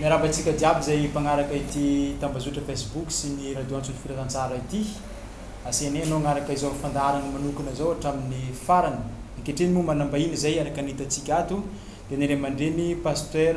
Miarahaba antsika jiaby izay mpagnaraka ity tambazotra Facebook sy ny radio antso ny Firazantsara ity. Asianay anao hagnaraka izao fandaharana manokana izao hatramin'ny farany. Ankehitriny moa manambahiny izay araka ny hitantsika ato dia ny ray aman-dreny Pasteur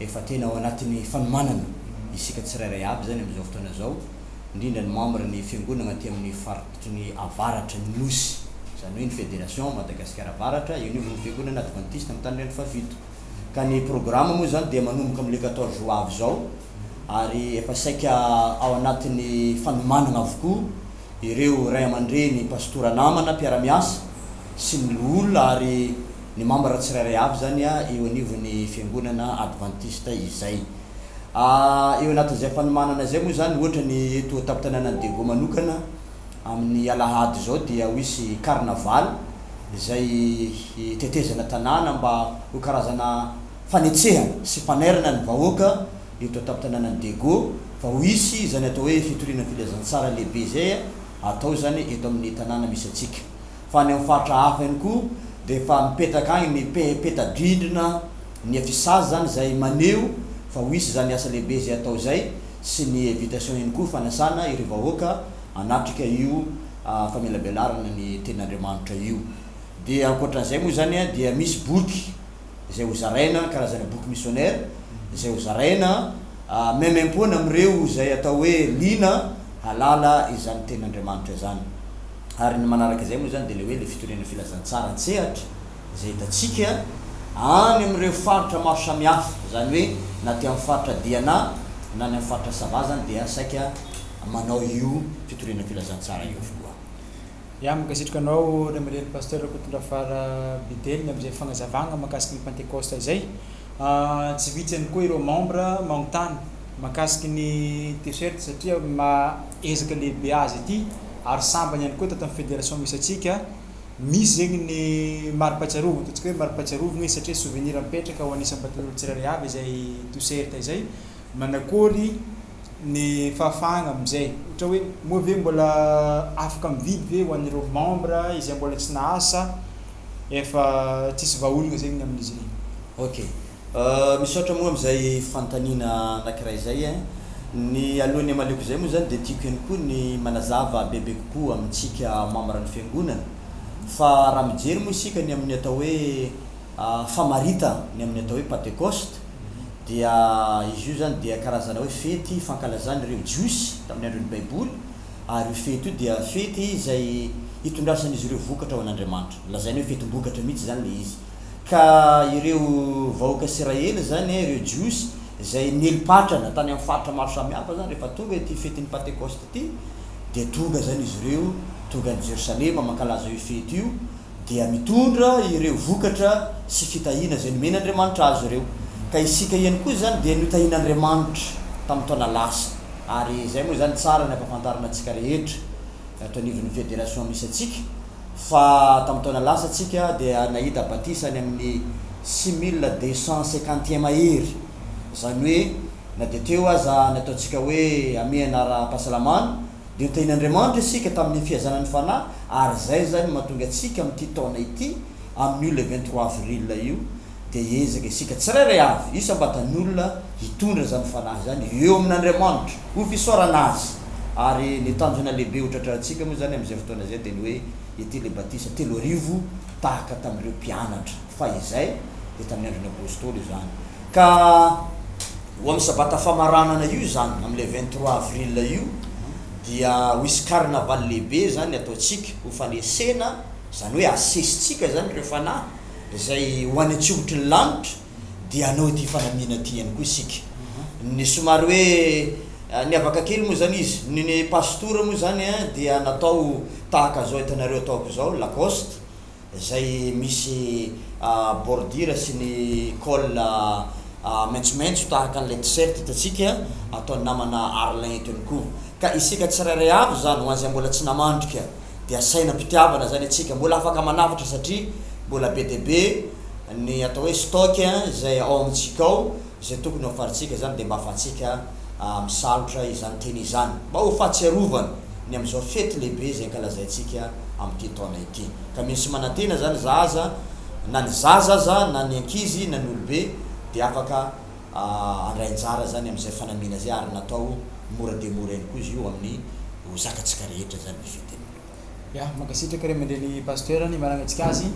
Efa tena ao anatin'ny fanomanana isika tsirairay aby izany amin'izao fotoana izao, indrindra ny membre ny fiangonagna aty amin'ny faritry ny avaratra ny Nosy, izany hoe ny Fédération Madagasikara Avaratra eo anivon'ny fiangonana advantista amin'ny tanindrazana fahafito. Ka ny programme moa izany dia manomboka amin'ny le quatorze ho avy izao ary efa saika ao anatin'ny fanomanagna avokoa ireo ray aman-dreny, pastora namana, mpiara-miasa sy ny loholona ary. ny mambra tsirairay avy izany eo anivon'ny Fiangonana Advantista izay. Eo anatin'izay fanomanana izay moa izany, ohatra ny eto an-tampon-tanànan'i Daegu manokana, amin'ny alahady izao dia ho hisy carnaval izay hitetezana tanàna mba ho karazana fanetsehana sy fanairana ny vahoaka eto an-tampon-tanànan'i Daegu fa ho hisy izany atao hoe fitoriana filazantsara lehibe izay hatao izany eto amin'ny tanàna misy antsika. fa any amin'ny faritra hafa ihany koa dia efa mipetraka agny ny pe- peta-drindrina ny affichage zany izay maneho fa ho hisy izany asa lehibe izay atao izay sy ny invitation ihany koa fanasana ireo vahoaka hanatrika io famelabelarana ny tenin'Andriamanitra io. Dia ankoatran'izay moa izany dia misy boky. izay ho zaraina, karazana boky misionera izay ho zaraina maimaimpoana amin'ireo izay atao hoe liana hahalala izany Tenin'Andriamanitra izany. Ary ny manaraka izay moa izany dia ilay hoe ilay fitoriana filazantsara an-tsehatra izay hitantsika any amin'ireo faritra maro samihafa, izany hoe na aty amin'ny faritra Diana na any amin'ny faritra Sava azany dia saika manao io fitoriana filazantsara io avokoa. Iany mankasitraka anao Remirely Pasteur Rakotondrafara Bidely ny amin'izay fagnazavagna mahakasiky ny Pentecoste izay. Tsy vitsy ihany koa ireo membres magnontany mahakasiky ny T-shirt satria maha ezaka lehibe azy ity ary sambany ihany koa tato amin'ny Fédération misy antsika misy zegny ny mari-pahatsiarovagna ataontsika hoe mari-pahatsiarovagna izy satria souvenir mipetraka ho an'ny isam-batan'olo tsirairay avy izay T-shirt izay. Manakôry. ny fahafahagna amin'izay ohatra hoe moa ve mbola afaka mividy ve ho an'ireo membre izay mbola tsy nahasa efa tsisy vahaolagna zegny ny amin'izy regny. Ok, misaotra moa amin'izay fanontaniana anankiray izay eh. Ny alohan'ny hamaliako izay moa izany dia tiako ihany koa ny manazava bebe kokoa amintsika membres ny fiangonana fa raha mijery moa isika ny amin'ny atao hoe famaritana ny amin'ny atao hoe Patekosta, dia izy io izany dia karazana hoe fety fankalazan'ireo Jiosy tamin'ny andron'ny Baiboly, ary io fety io dia fety izay hitondrasan'izy ireo vokatra ho an'Andriamanitra. Lazaina hoe fetim-bokatra mihitsy izany ilay izy. Ka ireo vahoaka Isiraely izany, ireo Jiosy izay nieli-patrana tany amin'ny faritra maro samihafa izany, rehefa tonga ity fetin'ny Pantekosta ity, dia tonga izany izy ireo, tonga any Jerosalema mankalaza io fety io, dia mitondra ireo vokatra sy fitahiana izay nomen'Andriamanitra azy ireo. Ka isika ihany koa izany dia notahian'Andriamanitra tamin'ny taona lasa ary izay moa izany tsara ny ampahafantarina antsika rehetra ato anivon'ny federation misy antsika fa tamin'ny taona lasa tsika dia nahita batisa any amin'ny six mille deux cent cinquante mahery izany hoe na dia teo aza ny ataontsika hoe amehana ara-pahasalamana Dia tehin' Andriamanitra isika tamin' ny fihazana ny Fanahy, ary izay izany no mahatonga antsika amin' ity taona ity, amin' io le vingt trois avril io, dia hiezaka isika tsirairay avy isam-batan' olona hitondra izany Fanahy izany eo amin' Andriamanitra ho fisaorana Azy. Ary ny tanjona lehibe ho tratrantsika moa izany amin' izay fotoana izay dia ny hoe ity le batisa telo arivo tahaka tamin' ireo mpianatra, fa izay dia tamin' ny andron' ny Apôstôly izany ka. Ho amin'ny sabata famaranana io izany, amin'ilay vingt trois avril io, dia ho hisy carnaval lehibe izany ataontsika ho fanesena, izany hoe asesintsika izany ireo fanahy izay ho any an-tsihotry ny lanitra, dia hanao ity fanamiana ity ihany koa isika. Ny somary hoe niavaka kely moa izany izy, ny ny pastora moa izany dia natao tahaka izao hitanareo ataoko izao, lacoste, izay misy bordure sy ny col maitsomaitso tahaka an'ilay t-shirt hitantsika ataon'ny namana Arlin eto ihany koa. Ka isika tsirairay avy izany, ho an'izay mbola tsy namandrika, dia asaina am-pitiavana izany antsika. Mbola afaka manavotra satria mbola be dia be ny atao hoe stock izay ao amintsika ao. Izay tokony ho farintsika izany dia mba afahantsika misalotra izany teny izany, mba ho fahatsiarovana ny amin'izao fety lehibe izay ankalazaintsika amin'ity taona ity. Ka mino sy manantena izany za aza, na ny zaza aza, na ny ankizy, na ny olobe dia afaka handray anjara izany amin'izay fanamiana izay ary natao mora dia mora ihany koa izy io amin'ny ho zakantsika rehetra izany ny fety. Ya, mankasitraka ray aman-dreny Pasteur ny mananantsika azy.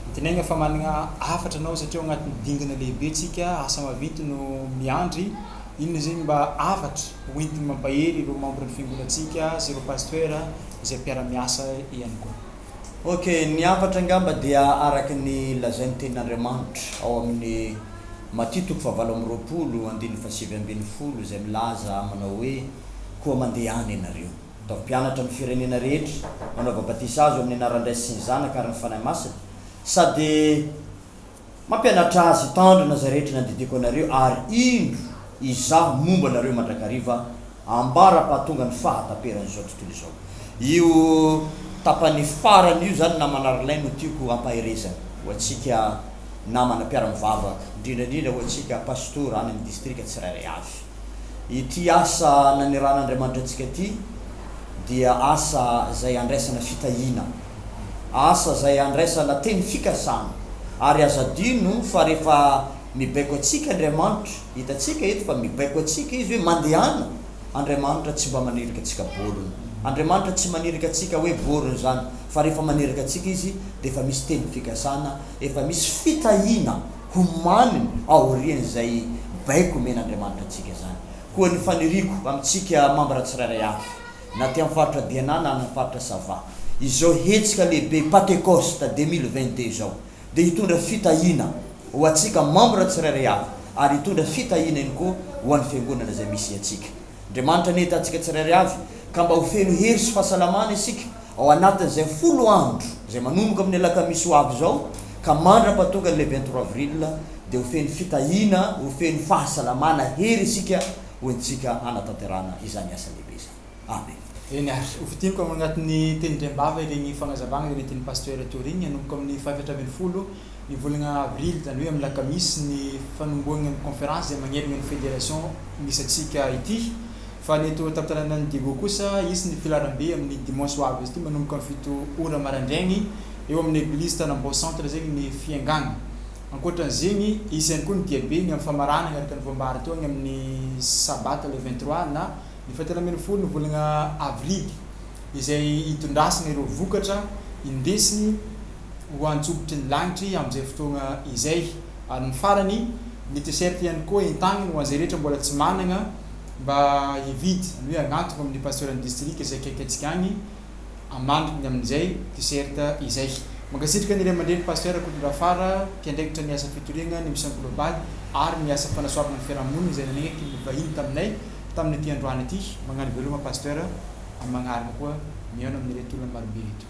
Antenaina fa manana hafatra anao satria ao anatin'ny dingana lehibe tsika, asa mavinty no miandry. Inona zegny mba hafatra hoentiny mampahery ireo membre ny fiangonantsika sy ireo Pasteur izay mpiara-miasa ihany koa. Ok, ny hafatra angamba dia araka ny lazain'ny tenin'Andriamanitra ao amin'ny Matia toko fahavalo amby roapolo andininy fahasivy ambin'ny folo izay milaza manao hoe, Koa mandehana ianareo. Ataovy mpianatra amin'ny firenena rehetra, manaova batisa azy ao amin'ny anaran'ny Ray sy ny Zanaka ary ny Fanahy Masina, sady mampianatra azy hitandrina izay rehetra nandidiako anareo, ary indro, Izaho momba anareo mandrakariva ambara-pahatonga ny fahataperan'izao tontolo izao. Io tapany farany io izany, namana ry lahy, no tiako ampaherezana ho antsika namana mpiara-mivavaka, indrindra indrindra ho antsika pastora any amin'ny distrika tsirairay avy. Ity asa naneran'Andriamanitra antsika ity dia asa izay andraisana fitahiana, asa izay andraisana teny fikasana. Ary aza adino fa rehefa mibaiko antsika Andriamanitra, hitantsika eto fa mibaiko antsika Izy hoe mandehana, Andriamanitra tsy mba maniraka antsika borona. Andriamanitra tsy maniraka antsika hoe borona izany, fa rehefa maniraka antsika Izy dia efa misy teny fikasana, efa misy fitahiana. ho mamy aorian'izay baiko omen'Andriamanitra antsika izany. Koa ny faniriako amintsika mambra tsirairay avy, na aty amin'ny faritra Diana na amin'ny faritra Sava, izao hetsika lehibe Patekosta deux mille vingt deux izao dia hitondra fitahiana ho antsika mambra tsirairay avy ary hitondra fitahiana ihany koa ho an'ny Fiangonana izay misy antsika. Andriamanitra anie hitantsika tsirairay avy, ka mba ho feno hery sy fahasalamana isika ao anatin'izay folo andro izay manomboka amin'ny alakamisy ho avy izao ka mandra-pahatonga an'ilay vingt trois avril dia ho feno fitahiana, ho feno fahasalamana, hery isika ho entintsika hanatanterahana izany asa lehibe izany. Amen. Eny ary, ho fintiniko ao anatin'ny tenin-dRembava ireny fanazavana ireny tian'ny Pasteur Tourigny hanomboka amin'ny faha-efatra ambin'ny folo Ny volana avrily, izany hoe amin'ny alakamisy, ny fanombohana ny conférence izay manerana ny fédération misy antsika ity. Fa ny eto an-tantananan'i Diego kosa, hisy ny filaharambe amin'ny dimanche ho avy ity manomboka amin'ny fito ora maraindraigny eo amin'ny eglizy Tanambao centre zegny ny fiangagna. Ankoatran'izegny, hisy ihany koa ny diabe ny amin'ny famarana agnaraka ny voam-bary teo agny amin'ny sabata le vingt trois na ny faha telo ambin'ny folo ny volana avrily izay hitondrasana ireo vokatra indesiny ho antsokotry ny lagnitry amin'izay fotoagna izay. Ary ny farany, ny T-shirt ihany koa entagniny ho an'izay rehetra mbola tsy managna mba hividy, izany hoe agnantoko amin'ny Pasteurn'ny Distrika izay akaiky antsika agny amaniko ny amin'izay T-shirt izay. Mankasitraka ny Ray aman-dReny Pasteur Rakotondrafara, mpiandraikitra ny asa fitoriagna ny Mission Globale ary ny asa fanasoavagna ny fiarahamonigny izay nanaiky ny vahiny taminay tamin'ity androany ity. Magnano veloma Pasteur, amin'ny magnaraka koa, mihaona amin'ireto olona marobe ireto.